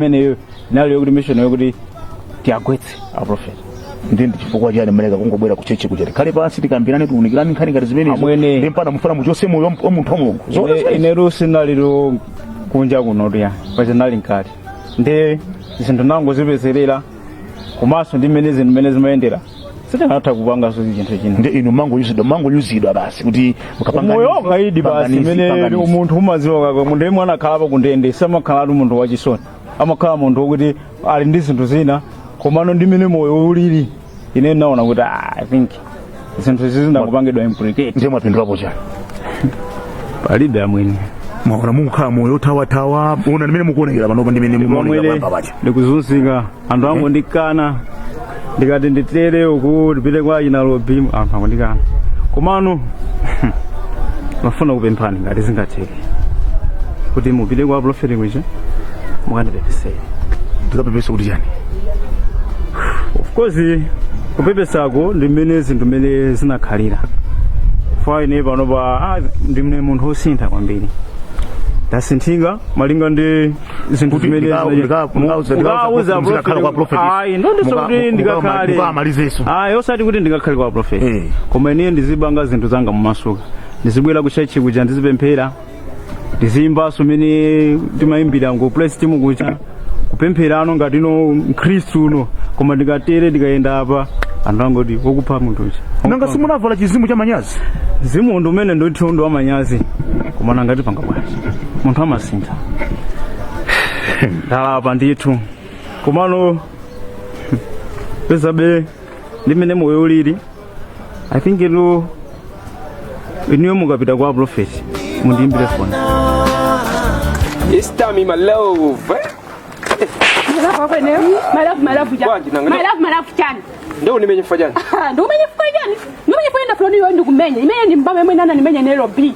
imeneyo nayo yokuti mission yokuti tiagwetse aprofeti ndi ndi chifukwa chani mmaleka kungobwera ku chechi kuti tikhale pansi tikambirane tiunikirane nkhani ngati zimenezo Amwene. ndi mpaka mufuna muchose moyo wa munthu wa mulungu Zoona Ine- zimenezo. inetu sindinali kunja kuno tuya pacha ndinali mkati ndiye zinthu ndinangozipezerera komanso ndi mmene zinthu mmene zimayendera sitikanatha kupanganso chinthu china ndiye inu munangoyuzidwa munangoyuzidwa basi kuti mukapanga moyo nizi, wakaidi panga basi nizi, panga imene nizi. umunthu umaziwa munthu yemwe anakhalapo ku ndende samakhala ali munthu wachisoni amakhala munthu wokuti ali ndi zinthu zina komano ndi mmene moyo ulili ine ndinaona kuti ah, i think zinthu izi ndinangopangidwa implicate ndiye mwapindulapo chani palibe amwene mwaona mukukhala moyo thawathawa ona ndi mmene mukuonekera panopa ndi mmene mukuonekera pamba pacha ndikuzunzika anthu angondikana ndikati ndithawire uku ndipite kwa achina lobi anthu angondikana komano ndimafuna kupemphani ngati zingatheke kuti mupite kwa profeti kuja mukandipepesere tikapepese kuti chani of course kupepesako ndi mmene zinthu mmene zinakhalira ifa ine panopa ah, ndine munthu wosintha kwambiri ndasinthika malinga ndi zinthu Kuti zimene ndika- ndika- ndikauza- ndikauza- ndikakhala kwa prophet. ayi sindikuti Muka- kuti muka- ndikakhale mukamalizeso. ayi osati kuti ndikakhale kwa prophet Eh. koma ine ndizipanga zinthu zanga momasuka ndizibwera ku church kuja ndizipemphera ndiziyimbaso mmene timayimbira ku praise timu kuja kupempheranso ngati mkhristu uno koma ndikatere ndikayenda apa anthu angoti wokupha munthu uja nanga simunavala chizimu cha manyazi zimu ndi umene ndithu ndi wamanyazi koma nanga tipanga bwanji munthu amasintha ndalapa ndithu komano penabe ndi mmene moyo ulili i think inuyo mukapita kwa prophet mundiimbire foni It's time in my love. Bwanji, nanga- malafuchani Ndio nimenyefanya. ndikumenye chifukwa chani ndikumenye chifukwa chani ndafuna niyo ndikumenye imene ndi mbama imene anandimenya nairobi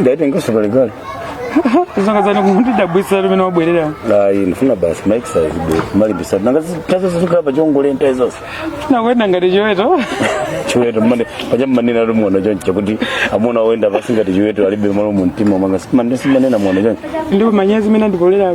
ndaitenganso kalekale za dzana dzana ukundidabwisa mmene wabwerera ayi ndifuna basi maexercise bwera malimbisa nanga tazo zizikhala pa chongole ntayi zonse ndikuyenda ngati chiweto chiweto mmene paja mmanena ndili mwana choncho kuti amuna oyenda pansi ngati chiweto alibe malo mu mtima mwanga simmanena mwana choncho ndipo manyazi mene andipolera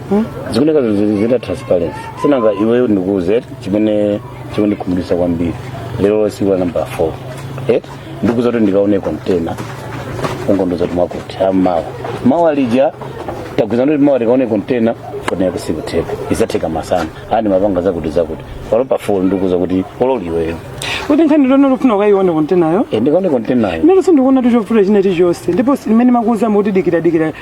zikuoneka zili zita transparency sinanga iweyo ndikuuze chimene chikundikhumudwitsa kwambiri lero tsiku la namba 4 eh? ndikuuza kuti ndikaone kontena ungondiuza kuti mwakuti mawa mawa lija tagwirizana kuti mawa tikaone kontena foni yako sikutheka isatheka masana ayi ndimapanga zakuti zakuti pano pa 4 ndikuuza kuti olo iweyo kuti nkhani ngati ukufuna ukayione kontenayo Eh, ndikaone kontenayo lero sindikuona chifukwa china chilichonse ndipo ndi mmene ndimakuuza kuti dikira dikira